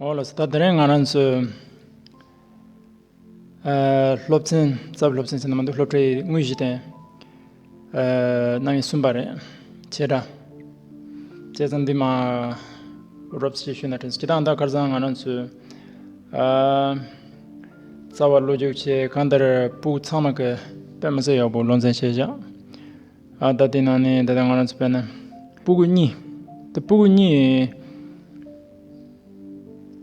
ཨོ་ལོ་ད་དེ་རིང་ང་རང་ཚོའི་སློབ་ཚན་རྩ་བའི་སློབ་ཚན་ཟེར་ན་མ་འདུག་སློབ་གྲྭའི་དངོས་གཞི་དེ་གནང་གིན་གསུངས་པ་རེད། བྱས་དྲ་བྱས་ཙང་འདི་མ་རོབ་ཅེས་ཞུས་ན་དྲན་སོང་ཁྱེད་རང་ད་སྐར་ཚང་ང་རང་ཚོའི་རྩ་བ་བློ་རྒྱུགས་ཆེ་གང་ལྟར་པུའུ་ཚང་མ་གི་པད་མ་ཚེ་ཡག་པོ་སློབ་ཚན་བྱས་བཞག། ད་ལྟའི་ནང་ནས་ད་ལྟ་ང་རང་ཚོ་བལྟས་ན་སྤུ་གུ་གཉིས། དེ་སྤུ་གུ་གཉིས་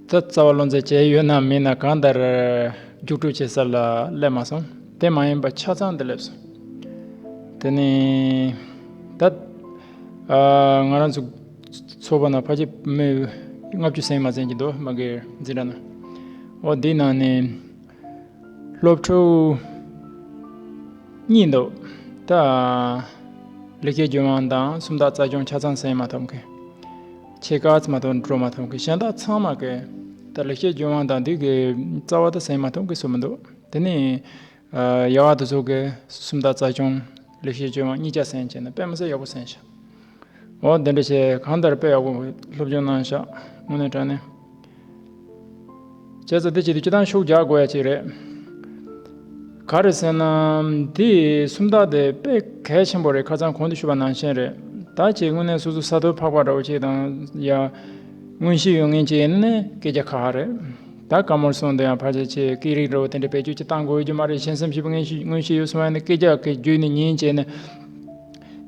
ད་རྩ་བ་ལོ་ཙཱ་བྱས་ཡོད་ན་མེད་ན་གང་ལྟར་རྒྱུགས་སྤྲོད་བྱེད་ས་ལ་སླེབས་མ་སོང། དེ་མ་ཡིན་པ་ཆ་ཚང་དུ་སླེབས་སོང། དེ་ནས་ད་ང་རང་ཚོ་ཚོ་པ་ན་ཕ་ཁྱེད་མོས་ལྔ་བཅུ་ཟིན་མ་ཟིན་གྱི་འདུག་མ་གིར་འཛིན་གྲྭ་ན། འོ་དེའི་ནང་ནས། སློབ་ཕྲུག། གཉིས་འདུག། ད། ལས་ཀའི་རྒྱུན་མང་དང་སུམ་རྟགས་རྩ་སྦྱོང་ཆ་ཚང་ཟིན་མ་ཐུབ་མཁན། ཕྱེད་ཀ་ཙམ་དུ་འགྲོ་མ་ཐུབ་མཁན་གཞན་དག་ཚང་མ་གི། ད་ལས་ཀའི་རྒྱུན་མང་དང་དུས་ཀྱི་རྩ་བ་དག་ཟིན་མ་ཐུབ་མཁན་སུ་མི་འདུག་དེ་ནས། ཡག་ཏུ་བཟོ་དགོས་སུམ་རྟགས་རྩ་སྦྱོང། ལས་ཀའི་རྒྱུན་མང་གཉིས་ཀ་ཟིན་བྱས་ན་དཔེ་མི་སྲིད་ཡག་པོ་ཟིན་ཞིང། འོ་འདི་འདྲ་ཞིག་གང་ལྟར་དཔེ་ཡག་པོ་སློབ་སྦྱོང་གནང་ཤག་དངོས་གནས་དྲན་ནས་བྱས་ཙོ་འདི་ཅིག་ཏུ་ཅི་ཐང་ཤུགས་རྒྱག་དགོས་ཡ་ཅིག་རེད། ག་རེད་ཟེར་ན་འདི་སུམ་རྟགས་དེ་དཔེ་གལ་ཆེན་པོ་རེད་ཁ་ཚང་གོང་དུ་ཞུས་པ་ནང་བཞིན་རེད་ད་ཅིག་དངོས་གནས་སོ་སོ་ས་རྡོ་ཕག་པ་འདྲ་བོ་ཅིག་དང་ཡ་དངོས་གཞི་ཡོད་ངེས་ཅིག་ཡིན་ནི་སྐད་རྒྱག་ཁག་ཧ་རེད་ད་ག་མོར་སོང་དུ་ཡང་ཕར་ཆེར་ཆེ་སྐད་རིགས་འདྲ་བོ་དེ་འདྲ་བེད་སྤྱོད་ཅིག་བཏང་དགོས་ཀྱི་མ་རེད་གཞན་སེམས་ཞིབ་དངོས་གཞི་ཡོད་སོང་བ་ཡིན་ནི་སྐད་རྒྱག་གི་རྒྱུ་ནི་ཉིན་བྱེད་ནི།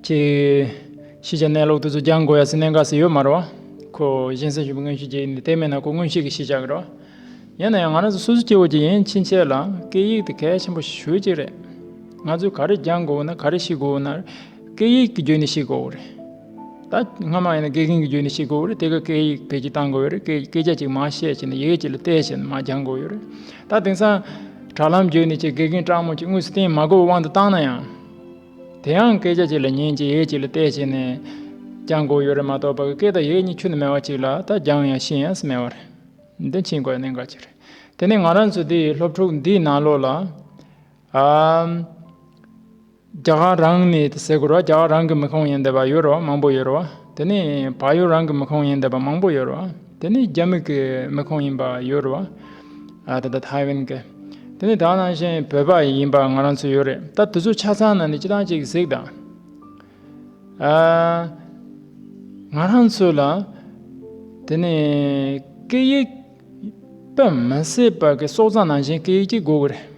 ཅེས་ཤེས་བྱ་གནས་ལུགས་དེ་ཚོ་རྒྱང་གོ་ཡ་ཟི་གནད་འགག་ཟི་ཡོད་མ་རོ། ཁོ་གཞན་སེམས་ཞུམ་པའི་དངོས་གཞི་རྒྱས་ཡིན་ཏེ་དེ་མེད་ན་ཁོ་དངོས་གཞི་གི་ཤེས་བྱ་གི་རོ། ཡིན་ན་ཡང་ང་རང་ཚོ་སོ་སོ་སྐྱེ་བོ་གྱི་ཡིན་ཕྱིན་ཆད་ལ་སྐད་ཡིག་དེ་གལ་ཆེན་པོ་ཞུ་གཅིག་རེད། ང་ཚོས་ག་རེ་རྒྱང་གོ་བོ་ན་ག་རེ་ཤི་གོ་བོ་ན་སྐད་ཡིག་གི་རྒྱུད་ནས་ཤི་གོ་བོ་རེད། ད་སྔ་མ་ཡིན་ན་དགེ་རྒན་གྱི་རྒྱུད་ནས་ཤི་གོ་བོ་རེད་དེ་ག་སྐད་ཡིག་བེད་སྤྱིད་བཏང་གོ་བོ་རེད་སྐད་སྐད་ཆ་ཅིག་མ་བཤད་ཅེ་ན་ཡི་གེ་ཅིག་ལ་བལྟས་ཞེ་ན་མ་རྒྱང་གོ་བོ་ཡོད་རེད། ད་དེང་སང་དྲ་ལམ་བརྒྱུད་ནས་ཅེས་དགེ་རྒན་སྤྲང་མོ་ཅིག་དངོས་སུ་བསྟན་མ་གོ་བའི་དབང་དུ་བཏང་ན་ཡང། དེའང་སྐད་ཆ་གཅིག་ལ་ཉིན་གཅིག་ཡས་གཅིག་ལ་ལྟས་བྱས་ནས། ཀྱང་དགོས་ཡོད་རེད་མ་གཏོགས་པ་ཀྱི་སྐད་དང་ཡས་གཉིས་ཆུ་ནི་མེད་བ་གཅིག་ལ་ད་རྒྱང་ཡང་ཤིང་ཡས་སུ་མེད་བ་རེད། འདི་ཕྱིན་དགོས་ཡ་གནད་འགག་ཅིག་རེད། དེ་ནས་ང་རང་ཚོ་འདི་ཡི་སློབ་ཕྲུག་འདིའི་ནང་ལོགས་ལ། རྒྱ་གར་རང་ནས་ཟེར་དགོས་རོགས་རྒྱ་གར་རང་གི་མི་ཁོངས་ཡིན་འདི་བ་ཡོད་རོགས་མང་པོ་ཡོད་རོགས། དེ་ནི་བག་ཡོད་རང་གི་མི་ཁོངས་ཡིན་འདོད་པ་མང་པོ་ཡོད་རེད། དེ་ནི་རྒྱ་མིག་གི་མི་ཁོངས་ཡིན་པ་ཡོད་རེད། ད་ལྟ་ཐའེ་ཝན་གྱི། དེ་ནི་དྭང་ནང་བཞིན་བོད་པ་ཡིན་པ་ང་རང་ཚོ་ཡོད་རེད། ད་དུས་ཚོད་ཆ་ཚང་ན་ནི་སྤྱི་དང་གཅིག་གཟིགས་དང། ང་རང་ཚོ་ལ། དེ་ནི་སྐད་ཡིག། པ་མི་སྲིད་པ་གི་སོག་ཙང་ནང་བཞིན་སྐད་ཡིག་གཅིག་དགོས་ཀྱི་རེད།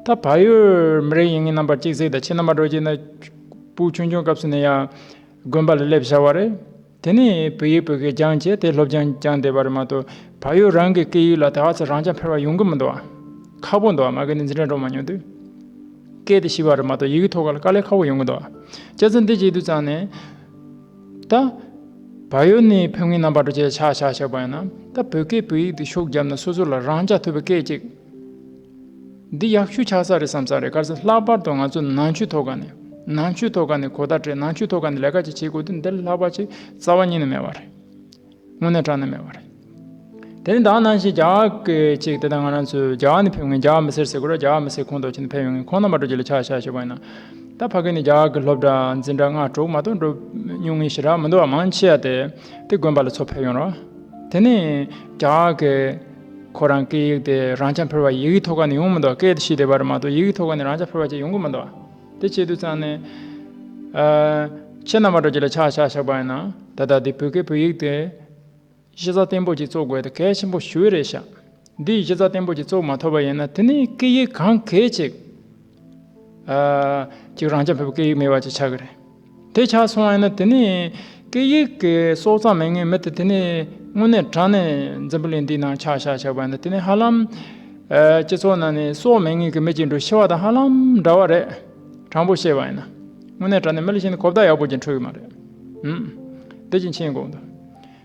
ད་བག་ཡོད་མི་རིགས་ཡིན་ངེས་རྣམ་པར་གཅིག་གཟིགས་དང་ཕྱི་རྣམ་པ་འགྲོ་གྱི་ན། པུའུ་ཆུང་ཆུང་སྐབས་སུ་ནི་ཡང། དགོན་པ་ལ་སླེབས་བྱ་བ་རེད། དེ་ནས་བོད་ཡིག་བོད་སྐད་སྦྱངས་བྱས་དེ་སློབ་སྦྱངས་སྦྱངས་བསྡད་པ་རེད་མ་གཏོགས་བག་ཡོད་རང་གི་སྐད་ཡིག་ལ་ད་ཚ་རང་ཅག་ཕེར་བ་ཡོང་གི་མི་འདུག་ཨ། ཁག་པོ་འདུག་ཨ་མ་གལ་ཏེ་འཛིན་གྲྭ་འགྲོ་མ་མྱོང་དུས། སྐད་དེ་ཤི་བ་རེད་མ་གཏོགས་ཡི་གེ་ཐོག་ཁ་ལ་དཀའ་ལས་ཁག་པོ་ཡོང་གི་འདུག་ཨ། སྐྱ་རྫུན་འདི་གཅིག་དུས་ཙང་ནས། ད། བག་ཡོད་ནས་ཕེབས་ངེས་ནམ་བགྲོ་བྱས་ཆག་ཆག་ཆག་པ་ཡིན་ན། ད་བོད་སྐད་བོད་ཡིག་འདི་ཤོག་བརྒྱབ་ན་སོ་སོ་ལ་རང་ཅག་ཐོས་པའི་སྐད་ཅིག། འདི་ཡག་ཤོས་ཆགས་ས་རེད་བསམ་ས་རེད་ག་ཚོད་ལྷག་པར་དུ་ང་ཚོ་ནང་ཆོས་ཐོག་ཁ་ནས་ནང་ཆོས་ཐོག་ཁ་ནས་གོ་བརྡ་སྤྲད་ནང་ཆོས་ཐོག་ཁ་ནས་ལས་ཀ་ཅིག་བྱེད་དགོས་དུས་འདིར་ལྷག་པ་ཆེ་རྩ་བ་ཉིད་ནས་མེད་པ་རེད། དངོས་གནས་དྲང་གནས་མེད་པ་རེད། དེ་ནི་དག་སྣང་ཞིག་རྒྱ་གི་ཅིག་དེ་ལྟར་ང་རང་ཚོས་རྒྱ་ག་ནས་ཕེབས་མཁན་རྒྱ་ག་མི་སེར་ཟེར་དགོས་ར་རྒྱ་ག་མི་སེར་ཁོངས་གཏོགས་ཅིག་ནས་ཕེབས་ཡོང་མཁན་ཁོང་རྣམ་པ་དྲོ་སྐྱིད་ལ་ཆགས་ཆགས་ཞེས་པ་ཡིན་ན། ད་ཕ་གི་ནི་རྒྱ་ག་གི་སློབ་གྲྭ་འཛིན་གྲྭ་ལྔ་དྲུག་མ་གཏོགས་འགྲོ་མྱོང་ངེས་ཞེ་དྲག་མི་འདུག་བ་མང་ཆེ་བ་དེ་དེ་དགོན་པ་ལ་ཚོ་ཕེབས་ཡོང་རོགས། དེ་ནི་རྒྱ་ག་གི། ཁོ་རང་སྐད་ཡིག་དེ་རང་ཅག་ཕལ་བ་ཡིག་གི་ཐོག་ཁ་ནས་ཡོང་མི་འདུག་སྐད་དེ་ཤེས་བསྡད་པ་རེད་མ་གཏོགས་ཡིག་གི་ཐོག་ཁ་ནས་རང་ཅག་ཕལ་བ་ཅིག་ཡོང་གི་མི་འདུག་དེ་བྱེད་དུས་ཚང་ནས། ཁྱེད་རྣམ་པ་དྲོ་སྐྱིད་ལ་ཆགས་ཆགས་བཞག་པ་ཡིན་ན། ད་ལྟ་དེ་བོད་སྐད་བོད་ཡིག་དེ། གཞི་རྩ་བརྟན་པོ་ཅིག་བཙུགས་དགོས་དེ་གལ་ཆེན་པོ་ཞུ་རེ་བྱ། འདི་གཞི་རྩ་བརྟན་པོ་ཅིག་བཙུགས་མ་ཐུབ་པ་ཡིན་ན་དེ་ནས་སྐད་ཡིག་གང་གལ་ཅིག། ཅིག་རང་ཅག་ཕལ་བ་སྐད་ཡིག་མེད་པ་ཅིག་ཆགས་ཀྱི་རེད། དེ་ཆགས་སོང་བས་ན་དེ་ནི། སྐད་ཡིག་གི་སྲོག་རྩ་མེད་ངེས་མེད་དེ་དེ་ནི་དངོས་གནས་དྲང་གནས་འཛམ་བུ་གླིང་འདིའི་ནང་ཆགས་བཞག་ཆགས་པ་ནི་དེ་ནི་ཧ་ལམ། སྤྱི་ཚོགས་ནང་ནས་སྲོག་མེད་ངེས་ཀྱི་མི་གཅིག་འགྲོ་ཤི་བ་དང་ཧ་ལམ་འདྲ་བ་རེད། དྲང་པོ་བཤད་པ་ཡིན་ན། དངོས་གནས་དྲང་གནས་མི་ལ་བྱིན་ནས་གོ་བརྡ་ཡག་པོ་ཅན་འཕྲོད་ཀྱི་མ་རེད། འདི་བཞིན་མཆན་འགོད་དོ།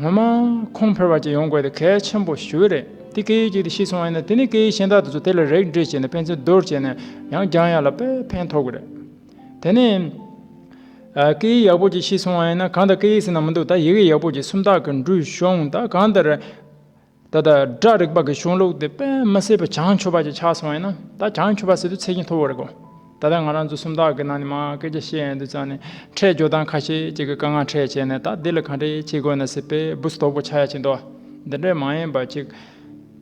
ངོ་མ་ཁོང་ཕེར་བ་ཅིག་ཡོང་དགོས་དེ་གལ་ཆེན་པོ་ཞིག་རེད་དེ་སྐད་ཡིག་ཅིག་དེ་ཤི་སོང་བ་ཡིན་ན་དེ་ནི་སྐད་ཡིག་གཞན་དག་དེ་ཚོ་དེ་ལ་རེག་འདྲེས་བྱས་ནས་ཕན་ཚུན་བསྡུར་བྱས་ནས་ཡང་སྦྱང་ཡ་ལ་དཔེ་ཕན་ཐོག་གི་རེད། དེ་ནས། སྐད་ཡིག་ཡག་པོ་ཅིག་ཤི་སོང་བ་ཡིན་ན་གང་ལྟར་སྐད་ཡིག་ཟེར་ན་མི་འདུག་ད་ཡི་གེ་ཡག་པོ་ཅིག་སུམ་རྟགས་ཀྱི་འབྲུ་གཞོང་ད་གང་ལྟར། ད་ལྟ་སྒྲ་རིག་པ་གི་གཞུང་ལུགས་དེ་དཔེ་མི་བསྲེས་པར་བྱང་ཆུབ་པ་ཅིག་ཆགས་སོང་བས་ན་ད་བྱང་ཆུབ་པ་ཟེར་དུས་ཚད་ཀྱིས་མཐོ་བོ་རེད་གོ། ད་ལྟ་ང་རང་ཚོ་སུམ་རྟགས་ཀྱི་ནང་ནས་མང་སྐད་ཆ་བཤད་ཡོང་དུས་ཚང་ནས་ཕྲད་ཇོ་དང་ཁ་ཤས་ཅིག་གི་དཀའ་ངལ་ཕྲད་བྱས་ནས་ད་འདི་ལ་གང་འདྲས་བྱེད་དགོས་ན་ཟེར་པའི་སྦུ་སྟོགས་པོ་ཆགས་ཡ་ཆེ་འདུག་འདི་འདྲས་མ་ཡིན་པ་ཅིག།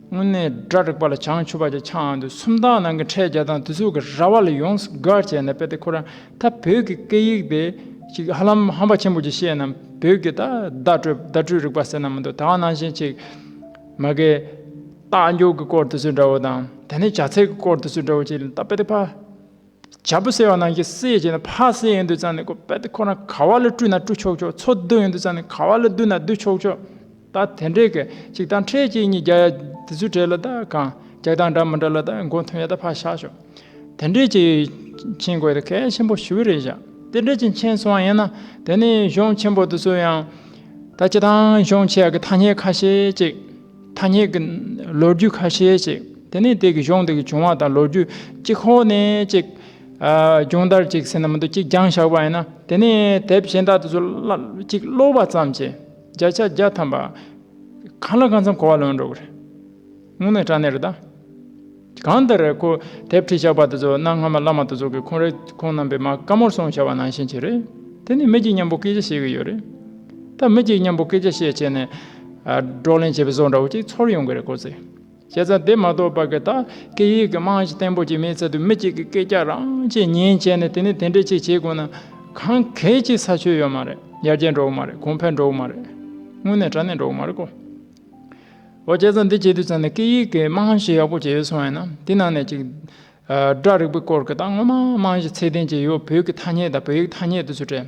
དངོས་གནས་སྒྲ་རིག་པ་ལ་བྱང་ཆུབ་པ་ཅིག་ཆགས་འདུག་སུམ་རྟགས་ནང་གི་ཕྲད་བརྒྱ་དང་དུས་ཚོད་ཀྱི་ར་བ་ལ་ཡོངས་སུ་དགའ་བྱས་ནས་དཔེ་དེ་ཁོ་རང་ད་བོད་ཀྱི་སྐད་ཡིག་དེ་ཅིག་ཧ་ལམ་ཧམ་པ་ཆེན་པོ་ཅིག་བཤད་ནམ་བོད་ཀྱི་ད་བརྡ་སྤྲོད་བརྡ་སྤྲོད་རིག་པ་ཟེར་ན་མི་འདུག་ད་ག་ནང་བཞིན་ཅིག། མ་གས། རྟགས་འཇོག་གི་སྐོར་དུ་ཚུལ་འདྲ་བོ་དང་དེ་ནས་བྱ་ཚིག་གི་སྐོར་དུ་ཚུལ་འདྲ་བོ་ཅིག་ལ་ད་པེ་ཏི་ཕ། བྱ་བུ་ཟེར་བ་ནང་བཞིན་སེ་བྱས་ན་ཕ་སེ་ཡིན་དུས་ཙང་ནས་ཀོ་པེ་ཏི་ཁོ་ན་ག་བ་ལ་བཀྲུས་ན་བཀྲུ་ཆོག་ཆོག་འཚོ་སྡོད་ཡིན་དུས་ཙང་ནས་ག་བ་ལ་སྡོད་ན་སྡོད་ཆོག་ཆོག། ད་དེ་འདྲའི་གི་གཅིག་དང་འཕྲད་གཅིག་གཉིས་བརྒྱ་ཡ་དེ་ཚོའི་གྲས་ལ་ད་གང་རྒྱག་དང་འདྲ་མི་འདྲ་ལ་ད་མགོ་མཐོན་ཡ་ད་ཕར་བཞག་ཤོག་དེ་འདྲའི་གཅིག་མཁྱེན་དགོས་ད་གལ་ཆེན་པོ་ཞུ་གི་རེད་བཞག་དེ་འདྲའི་གཅིག་མཁྱེན་སོང་ཡིན་ན་དེ་ནི་གཞོན་ཆེན་པོ་དེ་ཚོ་ཡང་ད་སྤྱི་དང་གཞོན་ཆེ་ཡ་གི་ཐ་སྙད་ཁ་ཤས་གཅིག་ཐ་སྙད་གི་ལོ་རྒྱུས་ཁ་ཤས་གཅིག་དེ་ནི་དེ་གི་གཞུང་དེ་གི་བྱུང་བ་དང་ལོ་རྒྱུས་གཅིག་ཧོ་ནས་གཅིག་སྦྱོང་བརྡར་གཅིག་ཟེར་ན་མི་འདུག་གཅིག་སྦྱང་བཞག་པ་ཡིན་ན་དེ་ནི་དེབ་གཞན་དག་དེ་ཚོ་གཅིག་ཀློག་པ་ཙམ་གྱིས་བརྒྱ་ཆ་བརྒྱ་ཐམ་པ། གང་ལ་གང་འཚམ་གོ་བ་ལོན་འགྲོ་གི་རེད། དངོས་གནས་སྐྲག་ནི་རེད་ད། གང་ལྟར་རེད་ཁོ་དེབ་ཁྲིད་ཞགས་པ་དེ་ཚོ་གནའ་སྔ་མ་བླ་མ་དེ་ཚོ་གི་ཁོང་རེད་ཁོང་རྣམ་པའི་མ་དཀར་མོར་སོང་བྱ་བ་ནང་བཞིན་གྱི་རེད། དེ་ནི་མི་གཅིག་མཉམ་པོ་སྐད་ཆ་བཤད་གི་ཡོད་རེད། ད་མི་གཅིག་མཉམ་པོ་སྐད་ཆ་བཤད་བྱས་ནས། བགྲོ་གླེང་བྱས་པའི་བཟོ་འདྲ་བོ་གཅིག་ཚོར་ཡོང་གི་རེད་ཁོ་ཚོས། བྱས་ཙང་དེ་མ་གཏོགས་པ་ཀི་ཏཱ་ཀི་ཡིག་གི་རྨང་གཞི་བརྟན་པོ་ཅིག་མེད་ཚད་དུ་མི་གཅིག་གིས་སྐད་རྒྱག་རང་བྱས་ཉན་བྱས་ནས་དེ་ནས་དེ་འདྲའི་ཅིག་བྱེད་དགོས་ན། གང་གལ་ཆེ་ས་ཆོད་ཡོད་མ་རེད་ཡར་རྒྱས་འགྲོ་གི་མ་རེད་གོང་འཕེལ་འགྲོ་གི་མ་རེད། དངོས་གནས་དྲ་གནས་འགྲོ་གི་མ་རེད་ཀོ། འོ་བྱས་ཙང་འདི་བྱེད་དུས་ཙང་ནས་ཀི་ཡིག་གི་རྨང་གཞི་ཡག་པོ་ཅིག་ཡོད་སོང་ཡིན་ན་དེ་ནང་ནས་ཅིག། སྒྲ་རིག་པའི་སྐོར་ཀི་ཏཱ་སྔོན་མ་རྨང་གཞི་ཚད་ལྡན་ཅིག་ཡོད་བོད་ཀི་ཐ་སྙད་དང་བོད་ཡིག་ཐ་སྙད་དུ་ཚུད་དྲན།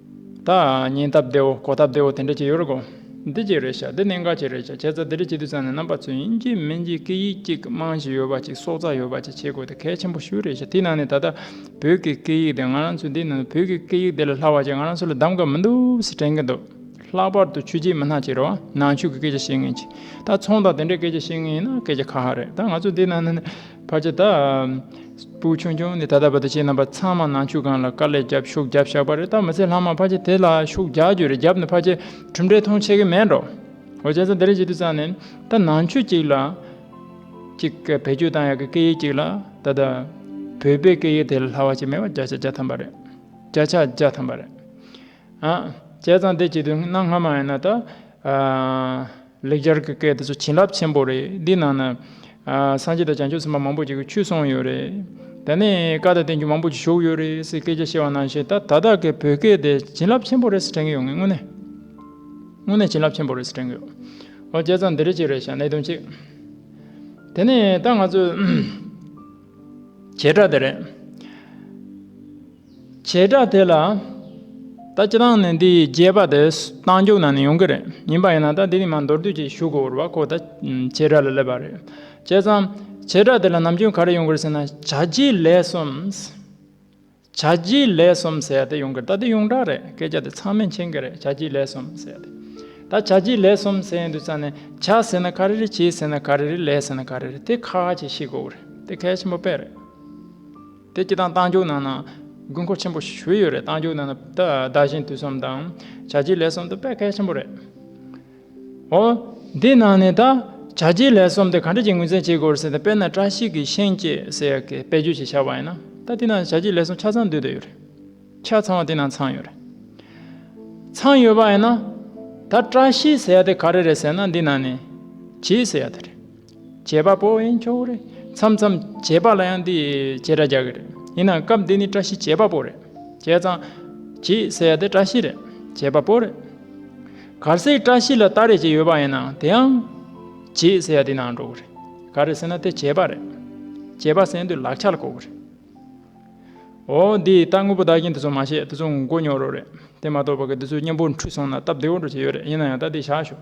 ད་ཉིན་སྟབས་བདེ་བོ་གོ་སྟབས་བདེ་བོ་དེ་འདྲ་བྱེད་ཡོད་རེད་གོ། འདི་གཅིག་རེད་ཤག་འདི་གནད་འགག་ཅིག་རེད་ཤག་ཁྱེད་ཚོ་འདི་འདྲ་བྱེད་དུས་ཚང་ནས་རྣམ་པ་ཚོས་དབྱིན་ཇིའི་མིང་གཅིག་སྐད་ཡིག་གཅིག་དམངས་གཞི་ཡོད་པ་ཅིག་སྲོག་རྩ་ཡོད་པ་ཅིག་བྱེད་དགོས་དེ་གལ་ཆེན་པོ་ཤོས་རེད་ཤག་དེའི་ནང་ནས་ད་ལྟ་བོད་ཀྱི་སྐད་ཡིག་དེ་ང་རང་ཚོའི་འདིའི་ནང་དུ་བོད་ཀྱི་སྐད་ཡིག་དེ་ལས་སླ་བ་ཅིག་ང་རང་ཚོ་ལ་གདམ་ག་མི་འདུག་ཟེར་དྲན་གྱི་འདུག་ལྷག་པར་དུ་ཆོས་རྗེ་མི་སྣ་གཅིག་རེད་བ་ནང་ཆོས་ཀྱི་སྐད་ཆ་བཤད་མཁན་ཅིག་ད་ཚོང་དང་དེ་འདྲའི་སྐད་ཆ་བཤད་མཁན་ཡིན་ན་སྐད་ཆ་ཁ་ཧ་རེད་ད་ང་ཚོ་འདིའི་ནང་ནས་བར་ཆད་དང། སྤུ་ཆུང་ཆུང་ནི་ད་ལྟ་བར་དུ་བྱེད་རྣམ་པ་ཚང་མ་ནང་ཆོས་ཁང་ལ་དཀའ་ལས་བརྒྱབ་ཤུགས་བརྒྱབ་བཞག་པ་རེད་ད་མི་ཚེ་ལྷག་མ་བར་ཆད་དེ་ལ་ཤུགས་རྒྱག་རྒྱུ་རེད་བརྒྱབ་ནས་བར་ཆད་གྲུབ་འབྲས་མཐོང་ཆེ་གི་མེད་འགྲོ། འོ་བྱས་ཙང་དེ་རིང་བྱེད་དུས་ཙང་ནི་ད་ནང་ཆོས་གཅིག་ལ། གཅིག་གི་བེད་སྤྱོད་བཏང་ཡག་གི་སྐད་ཡིག་གཅིག་ལ་ད་ལྟ། བོད་པའི་སྐད་ཡིག་དེ་ལ་ལྷག་བ་ཅིག་མེད་པ་བརྒྱ་ཆ་བརྒྱ་ཐམ་པ་རེད། བརྒྱ་ཆ་བརྒྱ་ཐམ་པ་རེད། བྱས་ཙང་དེ་བྱེད་དུས་གནའ་སྔ་མ་ཡིན་ན་ད། ལེགས་སྦྱར་གྱི་སྐད་དེ་ཚོ་བྱིན་རླབས་ཆེན་པོ་རེད་འདིའི་ནང་ན། སངས་རྒྱས་དང་བྱང་ཆུབ་སེམས་དཔའ་མང་པོ་ཞིག་གི་ཆོས་གསུངས་ཡོད་རེད། དེ་ནས་བཀའ་དང་བསྟན་བཅོས་མང་པོ་ཞིག་བཞུགས་ཡོད་རེད་ཟེར་སྐད་ཆ་བཤད་བ་ནང་བཞིན་ད་ད་ལྟ་གི་བོད་སྐད་དེ་བྱིན་རླབས་ཆེན་པོ་རེད་ཟེར་དྲན་གྱི་ཡོད་ངེས་དངོས་གནས། དངོས་གནས་བྱིན་རླབས་ཆེན་པོ་རེད་ཟེར་དྲན་གྱི་ཡོད། ཨོ་བྱས་ཙང་འདི་རེད་གཅིག་རེད་བྱས་གནད་དོན་གཅིག། དེ་ནས་ད་ང་ཚོས། བྱེ་བྲག་དེ་རེད། བྱེ་བྲག་དེ་ལ་ད་ཅི་ལྟར་ནས་འདི་ཡི་རྒྱས་པ་དེ་རྟ་མཇུག་ན་ནས་ཡོང་གི་རེད་ཡིན་པ་ཡིན་ན་ད་འདི་ནས་མ་མདོར་བསྡུས་ཀྱིས་ཞུ་དགོས་བར་ཁོ་ད་བྱེ་བྲག་ལ་སླེབས་པ་རེད། བྱས་ཙང། བྱེ་བྲག་དེ་ལ་ནམ་རྒྱུན་ག་རེ་ཡོང་གི་རེད་ཟེར་ན་བྱ་རྒྱུའི་ལས་གསུམ། བྱ་རྒྱུའི་ལས་གསུམ་ཟེར་དེ་ཡོང་གི་རེད་ད་དེ་ཡོངས་གྲགས་རེད་སྐད་ཆ་དེ་ཚང་མས་མཁྱེན་གི་རེད་བྱ་རྒྱུའི་ལས་གསུམ་ཟེར་དེ། ད་བྱ་རྒྱུའི་ལས་གསུམ་ཟེར་ཡོང་དུས་ཙང་ནས་བྱ་ཟེར་ན་ག་རེ་རེད་བྱེད་ཟེར་ན་ག་རེ་རེད་ལས་ཟེར་ན་ག་རེ་རེད་དེ་ཁག་ཁག་ཅིག་ཤེས་དགོས་བར་རེད་དེ་གལ་ཆེན་པོ་དཔེ་རེད། དེ་སྐྱིད་དང་གཏང་རྒྱུག་ནང་ན་དགོས་མཁོ་ཆེན་པོ་ཞུས་ཡོད་རེད་གཏང་རྒྱུག་ནང་ན་བདག་གཞན་དུས་གསུམ་དང་བྱ་རྗེས་ལས་གསུམ་དུ་དཔེ་གལ་ཆེན་པོ་རེད། འོ། འདི་ནང་ནས་ད་བྱ་རྗེས་ལས་གསུམ་དེ་ག་འདྲ་གྱི་ངོས་འཛིན་བྱེད་དགོས་ཟེར་ན་དཔེར་ན་བཀྲ་ཤིས་ཀྱི་ཤིང་སྐྱེས་ཟེར་ཡག་གི་དཔེ་བརྗོད་ཅིག་བྱ་བ་ཡིན་ན་ད་དེ་ནང་བྱ་རྗེས་ལས་གསུམ་ཆ་ཚང་འདུས་སྡོད་ཡོད་རེད། ཆ་ཚང་བ་དེ་ནང་ཚང་ཡོད་རེད། ཚང་ཡོད་པ་ཡིན་ན་ད་བཀྲ་ཤིས་ཟེར་ཡག་དེ་ག་རེ་རེད་ཟེར་ན་འདི་ནང་ནས་བྱིས་ཟེར་ཡག་དེ་རེད། བྱེད་པ་པོ་ཡིན་ཆོག་གི་རེད། མཚམས་མཚམས་བྱེད་པ་ལ་ཡང་འདི་བྱེད་སྒྲ་རྒྱག་གི་རེད། ཡིན་ནའང་སྐབས་འདི་ནི་བཀྲ་ཤིས་བྱེད་པ་པོ་རེད། བྱས་ཙང། བྱེས་ཟེར་ཡ་དེ་བཀྲ་ཤིས་རེད། བྱེད་པ་པོ་རེད། གར་སའི་བཀྲ་ཤིས་ལ་ལྟ་རེ་བྱས་ཡོད་པ་ཡིན་ནའང་དེའང། བྱེས་ཟེར་ཡ་དེའི་ནང་འགྲོ་གི་རེད། ག་རེ་ཟེར་ན་དེ་བྱེད་པ་རེད། བྱེད་པ་ཟེར་དུས་ལག་ཆ་ལ་གོ་གི་རེད། འོ། འདི་ལྟ་དངོས་པོ་བདག་རྐྱེན་དེ་ཚོ་མ་བཤད་དེ་ཚོ་མགོ་རྙོག་རོགས་རེད། དེ་མ་གཏོགས་པ་གི་འདི་ཚོའི་སྙིང་པོ་འཁྲུལ་སོང་ན་སྟབས་བདེ་བོ་འགྲོ་བྱེད་ཡོད་རེད་ཡིན་ན་ཡང་ད་འདི་བཞག་ཞོག།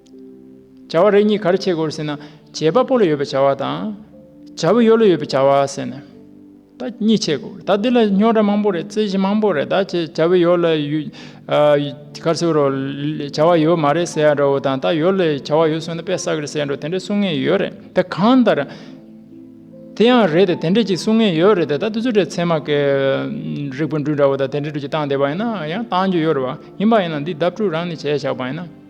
བྱ་བ་རེ་གཉིས་ག་རེ་བྱེད་དགོས་ཟེར་ན། བྱེད་པ་པོ་ལ་ཡོད་པའི་བྱ་བ་དང། བྱ་བའི་ཡོ་ལོ་ཡོད་པའི་བྱ་བ་ཟེར་ནས། ད་གཉིས་བྱེད་དགོས་ད་འདི་ལ་རྙོག་དྲ་མང་པོ་རེད་རྩོད་གཞི་མང་པོ་རེད་ད་བྱ་བའི་ཡོ་ལོ་ཡོད། ག་ཚོད་རོགས་བྱ་བ་ཡོད་མ་རེད་ཟེར་ཡ་འདྲ་བོ་དང་ད་ཡོ་ལོ་བྱ་བ་ཡོད་གསུངས་ན་དཔེ་བསགས་རེད་ཟེར་ཡ་འདྲ་བོ་དེ་འདྲ་གསུང་ངེས་ཡོད་རེད་དེ་གང་ལྟར། དེ་ཡང་རེད་དེ་དེ་འདྲ་གཅིག་གསུང་ངེས་ཡོད་རེད་དེ་ད་དེ་ཚོ་འདྲ་ཚད་མ་གལ། རིགས་པ་འདྲུད་འདྲ་བོ་དང་དེ་འདྲ་འདྲུད་ཀྱི་བཏང་བསྡད་པ་ཡིན་ན་ཡང་བཏང་རྒྱུ་ཡོད་རེད་བ། ཡིན་པ་ཡིན་ན་འདི་བརྡབ་འཕྲུག་རང་ནས་བྱས་བཞག་པ་ཡིན་ན།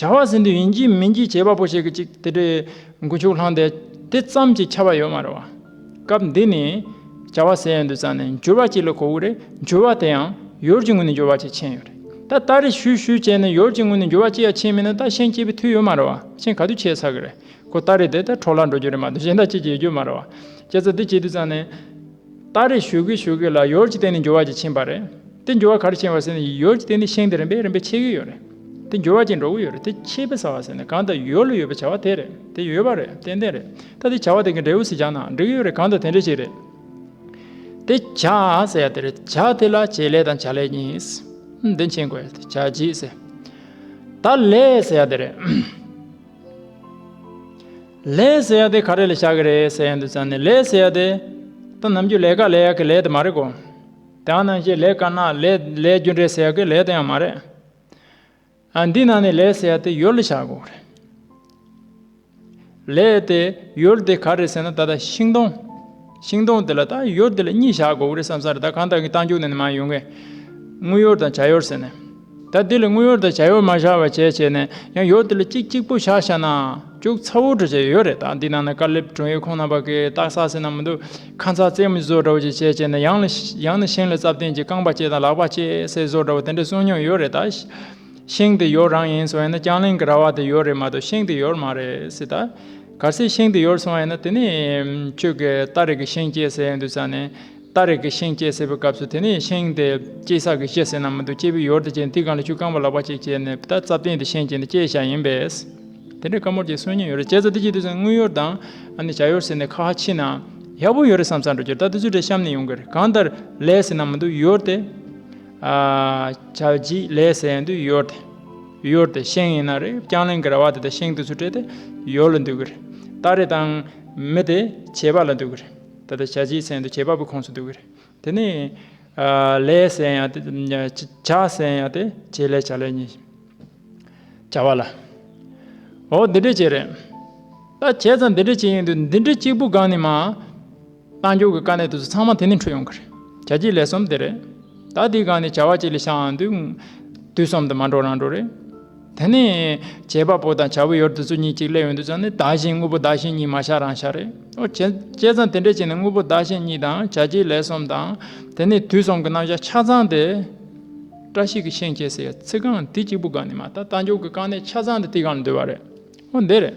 བྱ་བ་ཟིན་དུས་ཡིན་གྱི་མིན་གྱི་བྱེད་པ་པོ་ཞིག་གིས་ཅིག་དེ་འདྲའི་མགོ་འཕྱུག་ལྷང་དེ་དེ་ཙམ་གྱིས་ཁྱབ་པ་ཡོད་མ་རེད་བ། སྐབས་འདི་ནས། བྱ་བ་ཟེར་ཡོད་འདུག་ཙང་ནས་འགྱུར་བ་གཅིག་ལ་གོ་དགོས་རེད་འགྱུར་བ་དེ་ཡང་ཡོལ་གྱི་ངོས་ནས་འགྱུར་བ་གཅིག་ཕྱིན་ཡོད་རེད་ད་ལྟ་རེ་ཞུས་ཞུས་བྱས་ནས་ཡོལ་གྱི་ངོས་ནས་འགྱུར་བ་གཅིག་ཡང་ཕྱིན་མེད་ན་ད་གཞན་སྐྱིད་པའི་དུས་ཡོད་མ་རེད་བ་གཞན་ག་དུས་ཁྱད་ཚར་གི་རེད་གོ་ད་རེ་དེ་ད་གྲོགས་ལ་འགྲོ་རྒྱུ་རེད་མ་གཏོགས་གཞན་ད་ཅི་ཀྱང་ཡོད་རྒྱུ་མ་རེད་བ། ཁྱེད་ཚོ་འདི་བྱས་དུས་ཙང་ནས། སྟ་རེ་ཞོད་གེ་ཞོད་གེ་ལ་ཡོལ་གྱི་སྟེང་ནས་འགྱུར་བ་གྱིས་ཕྱིན་པ་རེད། དེ་འགྱུར་བ་ག་རེ་ཕྱིན་བ་ཟེར་ན་ཡོལ་གྱི་སྟེང་ནས་ཤིང་དེ་རིམ་པས་རིམ་པས་ཕྱེ་གི་ཡོད་རེད། དེ་འགྱུར་བ་གྱིས་འགྲོ་གི་ཡོད་རེད་དེ་ཕྱེ་བས་ཟ་བ་ཟེར་ནས་གང་ལྟར་ཡོལ་ལ་ཡོད་པའི་བྱ་བ་དེ་རེད་དེ་ཡོད་པ་རེད་ཏན་ཏན་རེད། ད་དེ་བྱ་བ་དེ་གི་འབྲས་བུ་ཟིག་བྱ་ན་འགྲིག་གི་ཡོད་རེད་གང་ལྟར་དེ་འདྲ་ཞིག་རེད། དེ་བྱ་ཟེར་ཡ་དེ་རེད་བྱ་དེ་ལ་བྱེད་ལས་དང་བྱ་ལས་གཉིས། འདི་མཁྱེན་དགོས་ཡ་དེ་བྱ་རྗེས་ཟེར། ད་ལས་ཟེར་ཡ་དེ་རེད། ལས་ཟེར་ཡ་དེ་ག་རེ་ལ་བྱ་གི་རེད་ཟེར་ཡ་འདུག་ཙང་ནས་ལས་ཟེར་ཡ་དེ་ད་ནམ་རྒྱུ་ལས་ཀ་ལས་ཡ་གི་ལས་དེ་མ་རེད་གོ། དེ་ཡང་ནང་བཞིན་ལས་ཀ་ན་ལས་ལས་རྒྱུ་འབྲས་ཟེར་ཡ་གི་ལས་དེ་ཡང་མ་རེད། ཨ་འདི་ནང་ནས་ལས་ཟེར་ཡ་དེ་ཡོད་ལ་བྱ་དགོས་རེད། ལས་དེ་ཡོད་དེ་ག་རེ་ཟེར་ན་ད་ལྟ་ཤིང་སྡོང། ཤིང་སྡོང་དེ་ལ་ད་ཡོད་དེ་ལ་གཉིས་བཞག་དགོས་གི་རེད་བསམ་བསམ་རེད་ད་གང་དག་གི་རྟ་མཇུག་ནས་མ་ཡོང་གི། དངུལ་ཡོར་དང་བྱ་ཡོར་ཟེར་ནས། ད་དེ་ལ་དངུལ་ཡོར་དང་བྱ་ཡོར་མ་བཞག་བ་བྱས་བྱས་ནས་ཡང་ཡོར་དེ་ལ་གཅིག་གཅིག་པོ་བཞག་ཤ་ན། ཅུག་ཚ་བོ་འདྲ་བྱས་ཡོད་རེད་ད་འདི་ནང་ན་དཀར་ལེབ་དྲུང་ཡིག་ཁོང་རྣམ་པ་གིས་བཏགས་ས་ཟེར་ན་མི་འདུག་ཁ་མཚར་རྩེད་མོ་བཟོ་འདྲ་བོ་ཅིག་བྱས་བྱས་ནས་ཡང་ལ་ཡང་ན་ཤིང་ལ་རྩབ་སྟེང་གི་རྐང་པ་བཅད་དང་ལག་པ་བཅད་སེ་བཟོ་འདྲ་བོ་དེ་འདྲ་གསུངས་མྱོང་ཡོད་རེད་ད། ཤིང་དེ་ཡོར་རང་ཡིན་སོང་ཡིན་ན་རྐྱང་གླིང་གི་ར་བ་དེ་ཡོར་རེད་མ་གཏོགས་ཤིང་དེ་ཡོར་མ་རེད་སྲིད་ད། གར་སའི་ཤིང་དེ་ཡོལ་སོང་བ་ཡིན་ན་དེ་ནི་ཁྱོད་ཀྱིས་རྟ་རེག་གི་ཤིང་སྐྱེས་ཟེར་ཡོད་འདུག་ཅང་ནས། རྟ་རེག་གི་ཤིང་སྐྱེས་ཟེར་བའི་སྐབས་སུ་དེ་ནི་ཤིང་དེ་སྐྱེས་ས་གིས་སྐྱེས་ཟེར་ན་མི་འདུག་སྐྱེས་བུའི་ཡོལ་དེ་སྐྱེས་འདི་གང་ལ་ཆུ་རྐང་པ་ལག་པ་གཅིག་བཅད་ནས་རྟ་རྩ་བཏིང་སྟེ་ཤིང་སྐྱེས་འདི་སྐྱེས་བྱ་ཡིན་པས། དེ་འདྲའི་བཀའ་མོལ་གྱི་སྲོལ་ཉན་ཡོད་རེད་སྐྱེས་རྩ་འདི་སྐྱེས་དུས་སུ་དངུལ་ཡོལ་དང། ཨ་ནི་བྱ་ཡོལ་ཟེར་ནས་ཁ་ཧ་ཕྱིས་ན། ཡག་པོ་ཡོད་རེད་བསམ་བསམ་འགྲོ་རྒྱུར་རྟ་དེ་ཚོའི་གྲས་གཤམ་ནས་ཡོང་གི་རེད་གང་ལྟར་ལས་ཟེར་ན་མི་འདུག་ཡོལ་དེ། བྱ་བྱིས་ལས་ཟེར་ཡོད་འདུག་ཡོལ་དེ། ཡོར་དེ་ཤིང་ཡིན་ན་རེག་རྐྱང་གླིང་གི་ར་བ་དེ་དང་ཤིང་དེ་ཚོ་སྤྲད་དེ་ཡོར་ལ་འདུག་གི་རེད། སྟ་རེ་དང་མི་དེ་བྱེད་པ་ལ་འདུག་གི་རེད། ད་ལྟ་བྱ་བྱིའི་ཚལ་འདུག་བྱེད་པ་པོའི་ཁོངས་སུ་འདུག་གི་རེད། དེ་ནས། ལས་ཟེར་ཡང་དེ། བྱ་ཟེར་ཡང་དེ་བྱེད་ལས་བྱ་ལས་གཉིས། བྱ་བ་ལ། འོ་འདི་འདྲས་བྱེད་རེད། ད་བྱས་ཙང་འདི་འདྲས་བྱེད་ཡིན་དུས་འདི་འདྲས་གཅིག་པུ་སྒང་ནས་མ། རྣལ་འབྱོར་གྱི་དཀའ་གནད་དུ་ཚུད་ཚང་མ་དེ་ནས་འཕྲོས་ཡོང་གི་རེད། བྱ་བྱེད་ལས་གསུམ་དེ་རེད། ད་དེའི་སྒང་ནས་བྱ་བ་གཅིག་ལས་ཤའང་འདུག། དུས་གསུམ་དུ་མ་འགྲོ་རང་འགྲོ་རེད། དེ་ནས། བྱེད་པ་པོ་དང་བྱ་བའི་ཡོར་དུ་ཚུད་གཉིས་གཅིག་སླེབས་ཡོང་དུས་ཙང་ནི་བདག་གཞན་དངོས་པོ་བདག་གཞན་གཉིས་མ་ཤ་རང་ཤ་རེད། འོ་བྱས་ཙང་དེ་འདྲའི་ཆེད་ནས་དངོས་པོ་བདག་གཞན་གཉིས་དང་བྱ་བྱེད་ལས་གསུམ་དང། དེ་ནས་དུས་གསུམ་གྱི་རྣམ་གཞག་ཆ་ཚང་དེ། བཀྲ་ཤིས་ཀྱི་ཤིང་བཅད་ཟེར་ཡ་ཚིག་རྐང་འདི་གཅིག་པུ་སྒང་ནས་མ་ལྟ་རྟ་མཆོག་གི་དཀའ་གནད་ཆ་ཚང་དེ་དེའི་སྒང་ལ་འདུས་པ་རེད། འོ་འདི་རེད།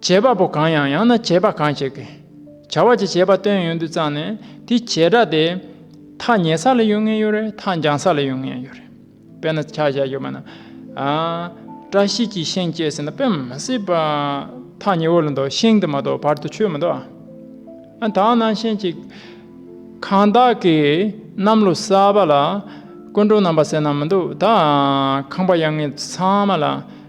བྱེད་པ་པོ་གང་ཡང་ཡང་ན་བྱེད་པ་གང་ཞིག་གིས། བྱ་བ་ཅི་བྱེད་པ་སྟོན་ཡོན་དུ་བརྩམས་ནས་དེ་བྱེད་སྒྲ་དེ། ཐག་ཉེ་ས་ལ་ཡོད་ངེས་ཡོད་རེད་ཐག་འགྱངས་ས་ལ་ཡོད་ངེས་ཡོད་རེད། དཔེར་ན་ཆ་བཞག་ཡོད་པ་ན། བཀྲ་ཤིས་ཀྱིས་ཤིང་བསྐྱེད་ཟེར་ན་དཔེ་མི་སྲིད་པ། ཐག་ཉེ་བོ་ལ་འདུག་ཤིང་དེ་མ་གཏོགས་བར་དུ་ཆོད་མི་འདུག་ཨ། དག་སྣང་ཤེས་གཅིག། གང་དག་གིས་གནམ་ལོ་གསར་པ་ལ། སྐུ་མགྲོན་རྣམ་པ་ཟེར་ན་མི་འདུག་ད། ཁང་པ་ཡང་ངེས་ཚང་མ་ལ།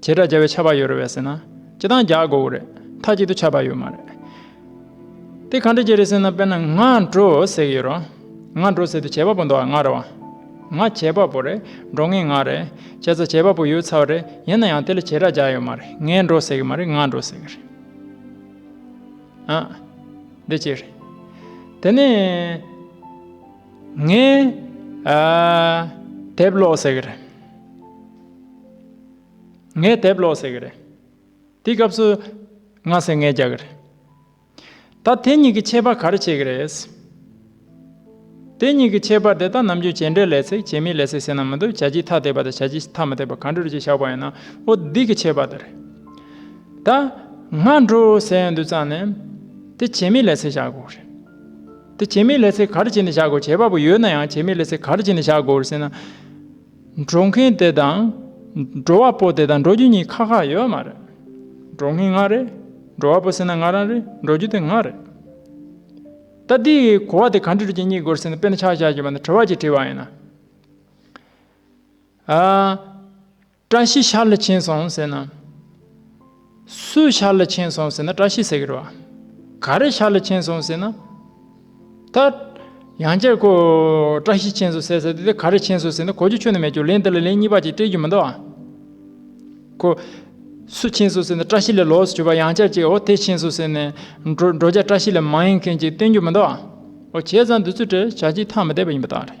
བྱེ་བྲག་བརྒྱ་བའི་ཆ་བག་ཡོད་རེད་བས་ཟེར་ན་སྤྱི་སྟངས་བརྒྱ་དགོས་བོ་རེད་མཐའ་གཅིག་ཏུ་ཆ་བག་ཡོད་མ་རེད། དེ་གང་འདྲ་བྱེད་རེད་ཟེར་ན་དཔེར་ན་ང་འགྲོ་ཟེར་གྱི་ཡོད་རང། ང་འགྲོ་ཟེར་དུས་བྱེད་པ་པོ་འདུག་ཨ་ང་རེད་བ། ང་བྱེད་པ་པོ་རེད་འགྲོ་ངེས་ང་རེད་བྱས་ཙང་བྱེད་པ་པོ་ཡོད་ཚར་བ་རེད་ཡིན་ན་ཡང་དེ་ལ་བྱེ་བྲག་བརྒྱ་ཡོད་མ་རེད་ངས་འགྲོ་ཟེར་གྱི་མ་རེད་ང་འགྲོ་ཟེར་གྱི་རེད། ཨ། འདི་གཅིག་རེད། དེ་ནས། ངས། དེབ་ཀློག་ཟེར་གྱི་རེད། ངས་དེབ་ཀློག་ཟེར་གི་རེད། དེའི་སྐབས་སུ། ང་ཟེར་ངས་རྒྱག་གི་རེད། ད་དེ་གཉིས་ཀྱི་ཁྱད་པར་ག་རེ་བྱེད་ཀྱི་རེད། དེ་གཉིས་ཀྱི་ཁྱད་པར་དེ་དག་ནམ་རྒྱུན་བྱེད་འབྲས་ལས་ཚེགས་བྱེད་མི་ལས་ཚེགས་ཟེར་ན་མི་འདུག་བྱ་བྱིས་ཐ་དད་པ་དང་བྱ་བྱིས་ཐ་མི་དད་པ་གང་འདྲ་རེད་ཅེས་བཞག་པ་ཡིན་ན་ཨོ་འདི་གི་ཁྱད་པར་དེ་རེད། ད། ང་འགྲོ་ཟེར་ཡོང་དུས་ཙང་ནས། དེ་བྱེད་མི་ལས་ཚེགས་བཞག་དགོས་རེད། དེ་བྱེད་མི་ལས་ཚེགས་ག་རེ་བྱས་ནས་བཞག་དགོས་བྱེད་པ་པོ་ཡོད་ན་ཡང་བྱེད་མི་ལས་ཚེགས་ག་རེ་བྱས་ནས་བཞག་དགོས་ཟེར་ན། འགྲོ་མཁན་དེ་དང། འགྲོ་བ་པོ་དེ་དང་འགྲོ་རྒྱུ་གཉིས་ཁག་ཁག་ཡོད་མ་རེད། འགྲོ་མཁན་ང་རེད། འགྲོ་བ་པོ་ཟེར་ན་ང་རང་རེད་འགྲོ་རྒྱུ་དེ་ང་རེད། ད་དེའི་གོ་བ་དེ་ག་འདྲི་རུ་གྱི་གཉིས་དགོས་ཟེར་ན་དཔེར་ན་ཆ་བཞག་གི་བ་ན་དྲི་བ་གཅིག་དྲིས་བ་ཡིན་ན། ཨ། བཀྲ་ཤིས་ཤར་ལ་ཕྱིན་སོང་ཟེར་ན། སུས་ཤར་ལ་ཕྱིན་སོང་ཟེར་ན་བཀྲ་ཤིས་ཟེར་གི་རེད། ག་རེས་ཤར་ལ་ཕྱིན་སོང་ཟེར་ན། ད། ཡང་བསྐྱར་ཁོ། བཀྲ་ཤིས་ཕྱིན་སོང་ཟེར་ཟེར་དེ་དེ་ག་རེས་ཕྱིན་སོང་ཟེར་ན་གོ་རྒྱུ་ཆོད་ནི་མེད་ཀྱོ་ལན་འདི་ལ་ལན་གཉིས་པ་ཅིག་སྤྲད་རྒྱུ་མི་འདུག་ཨ། ཁོ། སུ་ཕྱིན་སོང་ཟེར་ན་བཀྲ་ཤིས་ལས་ལོགས་སུ་གྱུར་པ་ཡང་བསྐྱར་ཅིག་ཨོ་དེ་ཕྱིན་སོང་ཟེར་ནས། འགྲོ་འགྲོ་བྱ་བཀྲ་ཤིས་ལས་མ་ཡིན་མཁན་ཅིག་སྟོན་རྒྱུ་མི་འདུག་ཨ། ཨོ་བྱས་ཙང་འདི་ཚོས་བྲེལ་བྱ་ཅིག་ཐག་མི་བསྡད་པ་ཡིན་པ་དང་རེད།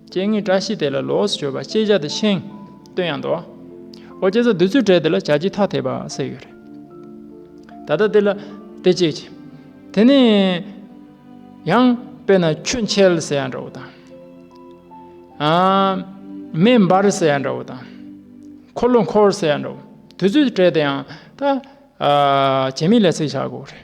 སྤྱན་ལྔའི་བཀྲ་ཤིས་དེ་ལ་ལོགས་སུ་བྱོས་པ་ཅེས་བྱ་སྟེ་ཤིང་སྟོན་ཡང་འདོགས། ཨོ་རྒྱན་ས་བདུད་ཚུལ་བྲལ་དེ་ལ་བྱ་ཁྱི་ཐ་དད་པ་སེ་ཡོད་རེ། ད་ལྟ་དེ་ལ་དེ་སྐྱེས་ཀྱི། དེ་ནས་ཡང་དཔེར་ན་ཁྱུ་མཆེད་ཟེར་ཡང་འདྲ་བོ་དང། མེ་འབར་ཟེར་ཡང་འདྲ་བོ་དང། འཁོར་ལོ་འཁོར་ཟེར་ཡང་འདྲ་བོ། དུས་ཚོད་བྲལ་དེ་ཡང་ད། བྱེ་མའི་ལས་ཚིག་བྱ་དགོས་རེ།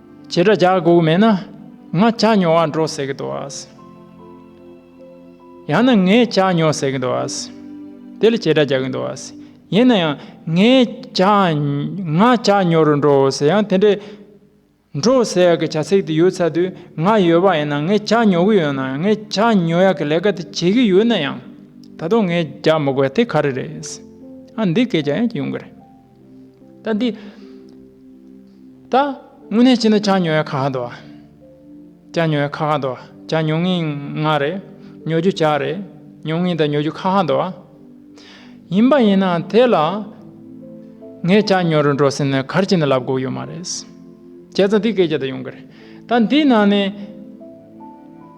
བྱེད་དྲ་རྒྱ་དགོས་མེད་ན་ང་བྱ་ཉོ་བར་འགྲོ་ཟེར་གི་འདུག་ཡང་ན་ངས་བྱ་ཉོ་ཟེར་གི་འདུག་དེ་ལ་བྱེད་དྲ་རྒྱག་གི་འདུག་ཡིན་ན་ཡང་ངས་བྱ་ང་བྱ་ཉོ་རུ་འགྲོ་ཟེར་ཡང་དེ་འདྲའི་འགྲོ་ཟེར་གི་བྱ་ཚིག་དེ་ཡོད་ཚ་དུས་ང་ཡོད་པ་ཡིན་ན་ངས་བྱ་ཉོ་གི་ཡོད་ན་ཡང་ངས་བྱ་ཉོ་ཡག་གི་ལས་ཀ་དེ་བྱེད་ཀྱི་ཡོད་ན་ཡང་ད་དུང་ངས་རྒྱག་མི་དགོས་དེ་ག་རེ་རེད་འདི་སྐད་རྒྱག་ཡང་ཡོང་གི་རེད། ད་འདི། ད། དངོས་གནས་བྱས་ན་ཅང་ཉོ་ཡ་ཁ་ཁ་འདུག་ཨ། ཅང་ཉོ་ཡ་ཁ་ཁ་འདུག་ཨ་ཅང་ཉོ་ངེས་ང་རེད། ཉོ་རྒྱུ་ཅག་རེད། ཉོ་ངེས་དང་ཉོ་རྒྱུ་ཁ་ཁ་འདུག་ཨ། ཡིན་པ་ཡིན་ནའང་དེ་ལ། ངས་ཅང་ཉོ་རུ་འགྲོ་ཟེར་ན་གར་སྤྱི་ན་ལབ་དགོས་ཡོད་མ་རེད། བྱས་ཙང་འདི་སྐད་ཅེས་ད་ཡོང་གི་རེད། ད་འདི་ནང་ནས།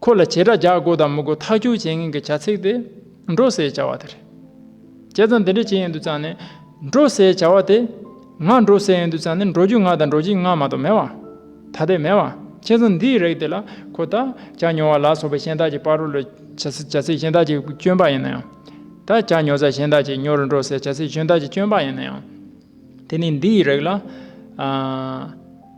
ཁོ་ལ་བྱེ་བྲག་བརྒྱ་དགུ་དང་མི་དགུ་ཐག་གཅོད་བྱེད་མཁན་གྱི་བྱ་ཚིག་དེ་འགྲོ་ཟའི་བྱ་བ་དེ་རེད། བྱས་ཙང་འདི་འདྲས་བྱེད་ཡོང་དུས་ཙང་ནི། འགྲོ་ཟའི་བྱ་བ་དེ། ང་འགྲོ་ཟས་ཡོང་དུས་ཙང་ནི་འགྲོ་རྒྱུ་ང་དང་འགྲོ་བྱེད་ང་མ་གཏོགས་མེད་བ། ད་ལྟའི་མེད་བ། བྱས་ཙང་འདིའི་རེག་དེ་ལ་ཁོ་ད་བྱ་ཉོ་བ་ལ་སོགས་པའི་གཞན་དག་གི་པར་རོ་ལ། བྱ་ཚིག་གཞན་དག་གི་སྐྱོན་པ་ཡིན་ན་ཡང། ད་བྱ་ཉོ་ས་གཞན་དག་གི་ཉོ་རུ་འགྲོ་ཟའི་བྱ་ཚིག་གཞན་དག་གི་སྐྱོན་པ་ཡིན་ན་ཡང། དེ་ནི་འདིའི་རེག་ལ།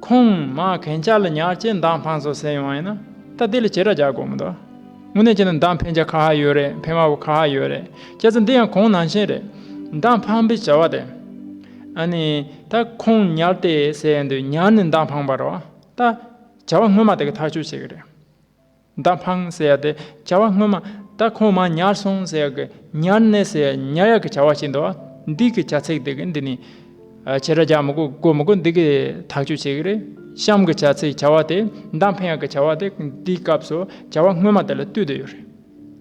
ཁོང་མ་གན་ཅཱ་ལ་ཉག་ཅེས་མདང་འཕངས་སོགས་ཟེར་ཡོང་ཡིན་ན་ད་དེ་ལ་བྱེད་ར་རྒྱག་དགོས་མི་འདུག་དངོས་གནས་བྱས་ན་མདང་འཕེན་བྱ་ཁ་ཧ་ཡོད་རེད་འཕེན་མ་བོ་ཁ་ཧ་ཡོད་རེད་སྐྱེས་ཚེ་འདི་ཡང་གོང་ནང་བཞིན་རེད་མདང་འཕངས་པའི་བྱ་བ་དེ། ཨ་ནི། ད་ཁོང་ཉར་ཏེ་ཟེར་ཡོང་དུས་ཉར་ནས་མདང་འཕངས་པར་རོགས་ད། བྱ་བ་སྔོན་མ་དེ་ག་ཐག་གཅོད་བྱེད་གི་རེད། མདའ་འཕངས་ཟེར་ཏེ་བྱ་བ་སྔོན་མ་ད་ཁོང་མ་ཉར་སོང་ཟེར་གི་ཉར་གནས་ཟེར་ཉར་ཡག་གི་བྱ་བ་བྱེད་འདུག་འདི་གི་བྱ་ཚིག་དེ་གི་འདི་ནི། བྱེད་སྒྲ་རྒྱག་མི་དགོས་དགོས་མི་དགོས་འདི་གི་ཐག་གཅོད་བྱེད་གི་རེད་གཤམ་གི་བྱ་ཚིག་བྱ་བ་དེ་མདའ་འཕེན་ཡག་གི་བྱ་བ་དེ་འདིའི་སྐབས་སུ་བྱ་བ་སྔོན་མ་དེ་ལ་བསྟུད་དུ་ཡོད་རེད།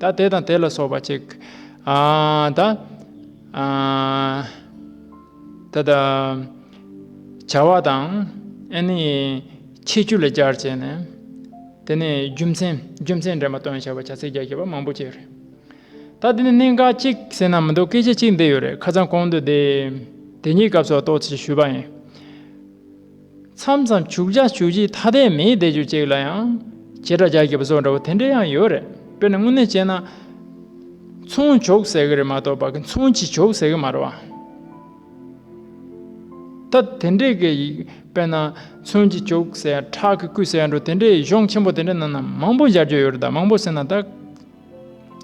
དང་དེ་དང་དེ་ལ་སོགས་པ་ཅིག། དང། བྱ་བ་དང། ཆེ་བཅུ་ལ་སྦྱར་བྱས་ནས། དེ་ནས་རྒྱུ་མཚན་རྒྱུ་མཚན་འདྲེན་པ་སྟོན་བྱ་བ་བྱ་ཚིག་བརྒྱ་བརྒྱ་པ་མང་པོ་ཅིག་རེད། ད་དེ་ནས་གནད་འགག་གཅིག་ཟེར་ན་མི་འདུག་སྐད་ཆ་གཅིག་འདི་ཡོད་རེད་ཁ་ཚང་གོང་དུ་དེ་ཉིད་སྐབས་སོགས་ཏོག་ཙེ་ཞུས་པ་ཡིན། མཚམས་མཚམས་བྱུག་བྱ་བྱུག་བྱེད་ཐ་དད་མེད་བཟླས་བརྗོད་ཅིག་ལ་ཡང། བྱེ་བྲག་རྒྱ་ཁྱབ་སོགས་འདྲ་བོ་དེ་འདྲ་ཡང་ཡོད་རེད་དཔེར་ན་དངོས་གནས་བྱས་ན། མཚུངས་བྱུག་ཟེར་གི་རེད་མ་གཏོགས་པ་མཚུངས་ཀྱིས་བྱུག་ཟེར་གི་མ་རེད་བ། ད་དེ་འདྲའི་སྐད་ཡིག་དཔེར་ན་མཚུངས་ཀྱིས་བྱུག་ཟེར་ཡ་ཁྲག་གིས་བསྐུས་ཟེར་ཡ་འགྲོ་དེ་འདྲའི་གཞུང་ཆེན་པོ་དེ་འདྲ་ནང་ན་མང་པོ་སྦྱར་རྒྱུ་ཡོད་རེད་ད་མང་པོ་ཟེར་ན་ད།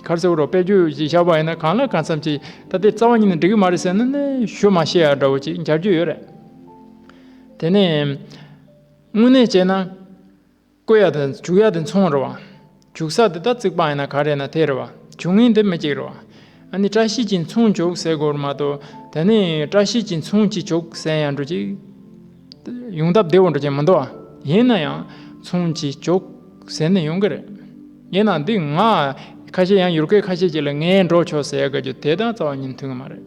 གར་ཚེ་བོ་རོགས་དཔེ་བརྗོད་ཅིག་བཞག་པ་ཡིན་ན་གང་ལ་གང་འཚམས་ཅིག་ད་དེ་རྩ་བ་ཉིད་ནས་འགྲིག་གི་མ་རེད་ཟེར་ན་ནི་ཞུ་མ་ཤེས་ཡ་འདྲ་བོ་ཅིག་སྦྱར་རྒྱུ་ཡོད་རེད། དེ་ནས་དངོས་གནས་བྱས་ན། བརྐོས་ཡག་དང་བྱུགས་ཡག་དེ་མཚུངས་རེད་བ། བྱུགས་ས་དེ་ད་རྩིག་པང་ཡིན་ན་ག་རེད་ན་དེ་རེད་བ། བྱུགས་ངན་དེ་མི་གཅིག་རེད་བ། ཨ་ནི་བཀྲ་ཤིས་ཀྱིས་མཚུངས་བྱུགས་ཟེར་དགོས་རེད་མ་གཏོགས་ད་ནི་བཀྲ་ཤིས་ཀྱིས་མཚུངས་ཅི་བྱུགས་ཟེར་ཡང་འགྲོ་གི། ཡོང་ཐབས་བདེ་བོ་འགྲོ་གི་མི་འདུག་བ། ཡིན་ན་ཡང་མཚུངས་ཅི་བྱུགས་ཟེར་ནི་ཡོང་གི་རེད། ཡིན་ན་འདི་ང་ཁ་ཤས་ཡང་ཡུལ་སྐད་ཁ་ཤས་ཀྱི་ལ་ངའི་འགྲོ་ཆོག་ཟེར་ཡག་གི་རྒྱུ་དེ་དང་རྩ་བ་ཉིན་མཐུན་གི་མ་རེད།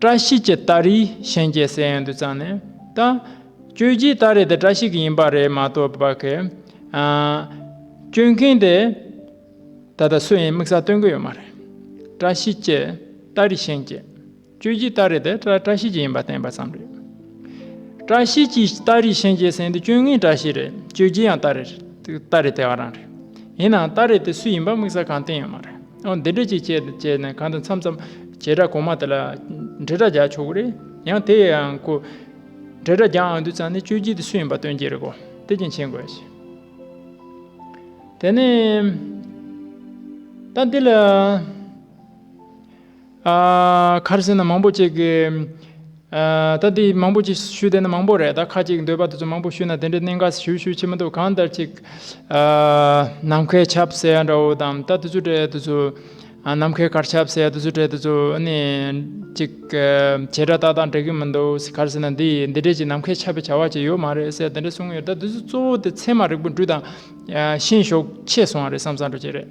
བཀྲ་ཤིས་ཀྱི་སྟ་རེ་གཤེན་རྒྱལ་སའི་ཡན་དུ་བརྩམས་ནས་བཏགས། གཅོད་བྱེད་སྟ་རེ་དེ་བཀྲ་ཤིས་ཀྱི་ཡིན་པ་རེད་མ་གཏོགས་པ། གཅོད་མཁན་དེ་ད་ལྟ་སུ་ཡིན་དམིགས་བསལ་སྟོན་གི་ཡོད་མ་རེད། བཀྲ་ཤིས་ཀྱི་སྟ་རེ་གཤེན་རྒྱལ། གཅོད་བྱེད་སྟ་རེ་དེ་བཀྲ་ཤིས་ཀྱི་ཡིན་པ་བསྟན་པ་ཙམ་རེད། བཀྲ་ཤིས་ཀྱིས་སྟ་རེའི་ཤན་འབྱེད་ཟིན་དུས་སྤྱོད་ངན་བཀྲ་ཤིས་རེད་སྤྱོད་རྒྱུ་ཡང་སྟ་རེ་སྟ་རེ་དེ་ག་རང་རེད་ཡིན་ནའང་སྟ་རེ་དེ་སུ་ཡིན་པ་དམིགས་བསལ་གང་བསྟན་ཡོད་མ་རེད་འོ་འདི་འདྲ་ཅིག་བྱས་ཏེ་བྱས་ནས་གང་དུ་འཚམས་འཚམས་བྱེད་དྲ་གོང་མ་དེ་ལ་འབྲེལ་སྒྲ་རྒྱག་ཆོག་གི་རེད་ཡང་དེ་ཡང་ཁོ་འབྲེལ་སྒྲ་རྒྱག་ཨང་དུས་ཙམ་ནས་སྤྱོད་རྒྱུ་དེ་སུ་ཡིན་པ་སྟོན་རྒྱུ་རེད་གོ་དེ་བཞིན་བྱེད་དགོས་ཞེས། དེ་ནས་ད་འདི་ལ། ཁར་སེ་ན་མང་པོ་ཅིག། ད་འདི་མང་པོ་ཅིག་ཞུས་བསྡད་ན་མང་པོ་རེད་ད་ཁ་ཅིག་འདོད་པ་དེ་ཚོ་མང་པོ་ཞུས་ན་དེ་འདྲའི་གནད་འགག་ཞུ་ཞུ་བྱེད་མི་འདུག་གང་ལྟར་ཅིག། ནམ་མཁའི་ཆབ་སེ་ཡ་འདྲ་བོ་དང་ད་དེ་ཚོའི་གྲས་དེ་ཚོ། ནམ་མཁའི་གར་ཆབ་སེ་ཡ་དེ་ཚོའི་གྲས་དེ་ཚོ་ནི། ཅིག། བྱེད་སྒྲ་ཏག་ཏག་འགྲིག་གི་མི་འདུག་ཁར་སེ་ན་འདི་འདི་འདྲའི་ཅིག་ནམ་མཁའི་ཆབ་པའི་བྱ་བ་ཅིག་ཡོད་མ་རེད་ཟེར་དེ་འདྲ་གསུང་ཡོད་ད་དེ་ཚོ་གཙོ་བོ་དེ་ཚད་མ་རིག་པོ་འདྲུད་དང། ཤེས་ཞོག་ཆེ་སོང་བ་རེད་བསམ་བསམ་འགྲོ་ཅིག་རེད།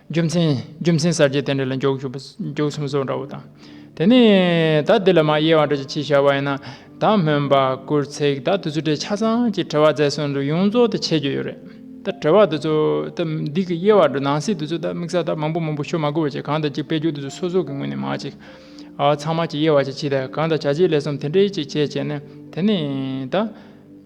རྒྱུ་མཚན། རྒྱུ་མཚན་གསར་བརྗེའི་རྟེན་འབྲེལ་ལ་མགྱོགས་ཞུགས་པ་མགྱོགས་ཚིམ་སོགས་འདྲ་བོ་དང། དེ་ནས་ད་འདི་ལ་མ་དབྱེ་བར་འགྲེལ་བྱེད་ཅིག་བྱ་བ་ཡིན་ན། ད་སྨོན་པ་སྐུར་ཚེགས་ད་དུ་ཚུལ་འབྲས་ཆ་ཚང་གཅིག་བྲལ་བ་རྫས་སོ་འདུ་ཡོངས་རྫོགས་དུ་འཆད་རྒྱུ་ཡོད་རེད། ད་བྲལ་བ་འདི་ཚོ། ད་འདི་གི་དབྱེ་བ་འདི་ནང་གསེས་འདི་ཚོ་ད་དམིགས་བསལ་ད་མང་པོ་མང་པོ་ཤོ་མ་དགོས་པ་ཅིག་གང་དང་གཅིག་སྤེལ་རྒྱུ་འདི་ཚོ་སོ་སོ་གི་ངོས་ནས་མ་ཅིག། ཚང་མ་གཅིག་དབྱེ་བ་ཅིག་ཕྱིས་ད་གང་དང་བྱ་བྱེད་ལས་གསུམ་དེ་འདྲའི་ཅིག་བྱས་བྱས་ནས་དེ་ནས་ད།